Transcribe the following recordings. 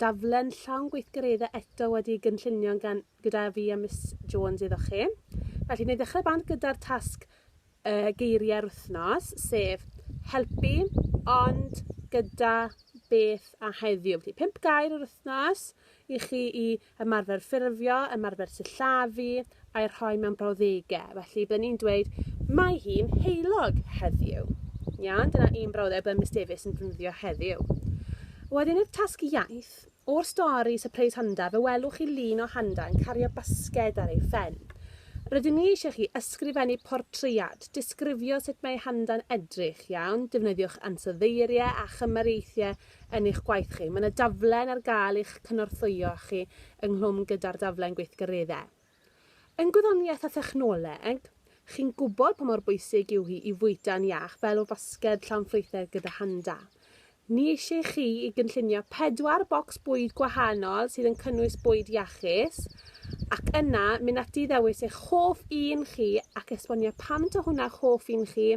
daflen llawn gweithgareddau eto wedi gynllunio gan, gyda fi a Miss Jones iddo chi. Felly, ni ddechrau band gyda'r tasg uh, geiriau'r wythnos, sef helpu, ond gyda beth a heddiw. Felly, pimp gair yr wythnos i chi i ymarfer ffurfio, ymarfer sillafu, a'i rhoi mewn brawddegau. Felly, byddwn ni'n dweud, mae hi'n heulog heddiw. Iawn, dyna un brawddeg byddwn Miss Davies yn defnyddio heddiw. Wedyn i'r tasg iaith, o'r stori Surprise Handa, fe welwch chi lun o Handa yn cario basged ar ei phen. Rydyn ni eisiau chi ysgrifennu portread, disgrifio sut mae Handa'n edrych, iawn, defnyddiwch ansoddeiriau a chymariaethau yn eich gwaith chi. Mae yna daflen ar gael i'ch cynorthwyo chi ynghlwm gyda'r daflen gweithgareddau. Yn gwyddoniaeth a thechnoleg, chi'n gwybod pa mor bwysig yw hi i fwyta'n iach fel o fasged llawn ffrwythau gyda handa. Ni eisiau chi i gynllunio pedwar bocs bwyd gwahanol sydd yn cynnwys bwyd iachus, ac yna mynd ati i ddewis eich hoff un chi ac esbonio pam ta hwnna eich hoff un chi,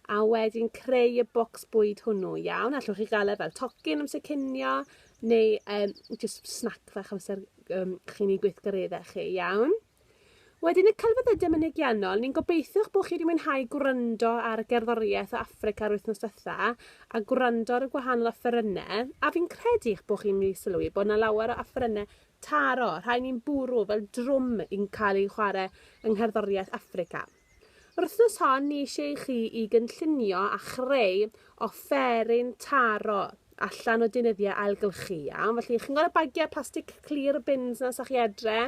a wedyn creu y bocs bwyd hwnnw, iawn? Allwch chi gael e fel tocyn amser cinio, neu um, just snack fach amser um, chi'n ei gweithgareddau chi, iawn? Wedyn y celfyddydau mynegiannol, ni'n gobeithio'ch bod chi wedi mwynhau gwrando ar y gerddoriaeth o Africa yr wythnos dytha, a gwrando ar y gwahanol offerynnau, a fi'n credu eich bod chi'n mynd i sylwi bod yna lawer o offerynnau taro, rhai ni'n bwrw fel drwm yn cael ei chwarae yng ngherddoriaeth Africa. Yr wythnos hon ni eisiau i chi i gynllunio a chreu offeryn taro allan o deunyddiau ailgylchu iawn. Felly chi'n gweld y bagiau plastic clir bins na sa chi adre?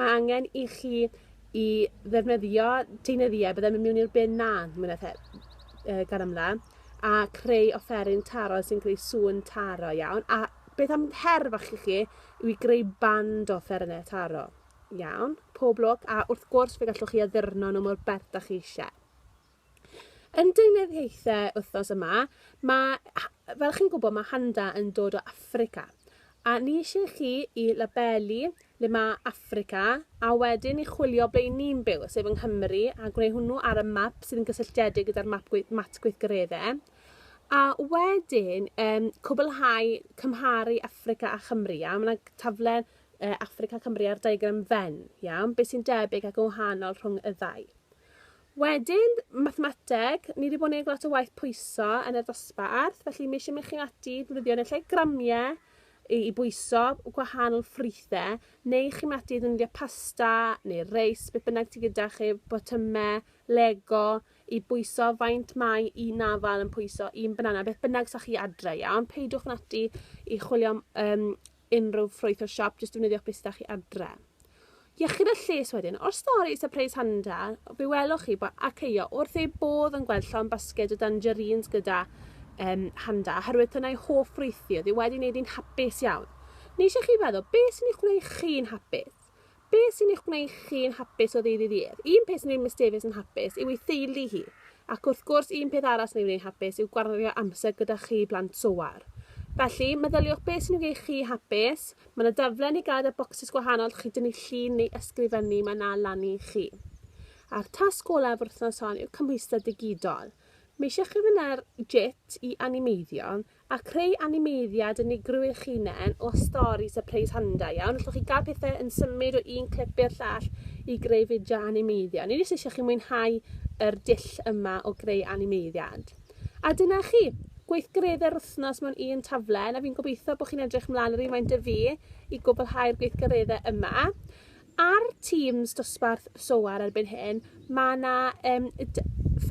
Mae angen i chi i ddefnyddio deunyddiau byddai'n mynd mewn i'r bin na, mwy na the, gan amla, a creu offeryn taro sy'n creu sŵn taro iawn. A beth am her fach i chi yw i greu band o offerynnau taro. Iawn, pob lwc, a wrth gwrs fe gallwch chi addurno nhw mor bert da chi eisiau. Yn deunydd hithau wythnos yma, mae, fel chi'n gwybod, mae handa yn dod o Africa. A ni eisiau chi i labelu le mae Africa a wedyn i chwilio ble ni'n byw, sef yng Nghymru, a gwneud hwnnw ar y map sydd yn gysylltiedig gyda'r map gwe mat gweithgareddau. A wedyn, um, cwblhau cymharu Africa a Chymru, a mae yna taflen e, Affrica Cymru ar diagram Venn, iawn? Beth sy'n debyg ac yn wahanol rhwng y ddau? Wedyn, mathemateg, ni wedi bod yn gwneud lot o waith pwyso yn yr ddosbarth, felly mi eisiau mynd chi'n ati ddefnyddio yn y lle gramiau i, i bwyso gwahanol ffrwythau, neu chi'n mynd ati ddefnyddio pasta neu reis, beth bynnag ti gyda chi, botymau, lego, i bwyso faint mae un afal yn pwyso un banana, beth bynnag sa chi adre, iawn? Peidiwch yn ati i chwilio um, unrhyw ffrwyth o'r siop, jyst defnyddiwch beth sydd â chi adre. Iechyd a lles wedyn. O'r stori Surprise Handa, fe welwch chi bod Akeio wrth ei bodd yn gweld llon basged o dangerines gyda um, Handa, oherwydd dyna ei hoff ffrwyth oedd e wedi wneud hi'n hapus iawn. Ni eisiau chi feddwl, beth sy'n ei chreu chi'n hapus? Be sy'n eich gwneud chi'n hapus o ddydd i ddydd? Un peth sy'n gwneud Miss Davies yn hapus yw ei theulu hi, ac wrth gwrs un peth arall sy'n ei wneud hapus yw gwario amser gyda chi blant Soar. Felly, meddyliwch beth sy'n gwneud chi hapus, mae yna daflen i gael y bocsys gwahanol chi dynnu llun neu ysgrifennu mae yna lan i chi. A'r tasg olaf wrth wythnos hon yw cymhwyster digidol. Mae eisiau chi fynd ar JIT i animeiddio, A creu animeiddiad yn ei grwy'ch hunain o stori sypreis handa iawn. Allwch chi gael pethau yn symud o un clip i'r llall i greu fideo animeiddio. Ni jyst eisiau chi mwynhau yr dull yma o greu animeiddiad. A dyna chi, gweithgareddau'r wythnos mewn un taflen, a fi'n gobeithio bod chi'n edrych mlaen yr un faint y fi i gwblhau'r gweithgareddau yma. Ar Teams dosbarth SOAR erbyn hyn, mae 'na um,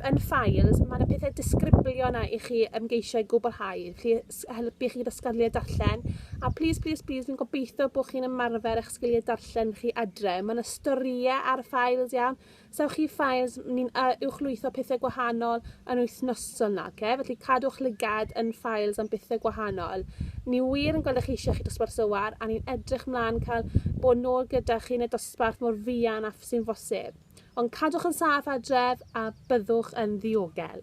yn files, mae yna pethau disgriblio yna i chi ymgeisio i gwblhau, chi helpu chi gyda sgiliau darllen, a plis, plis, plis, fi'n gobeithio bod chi'n ymarfer eich sgiliau darllen chi adre. Mae yna storïau ar y files iawn, Sewch chi files, ni'n uh, uwchlwytho pethau gwahanol yn wythnosol nage, felly cadwch lygad yn files am bethau gwahanol. Ni wir yn gweld eich eisiau chi dosbarth sywar a ni'n edrych mlaen cael bod nôl gyda chi yn y dosbarth mor fuan â sy'n fosib. Ond cadwch yn saff adref a byddwch yn ddiogel.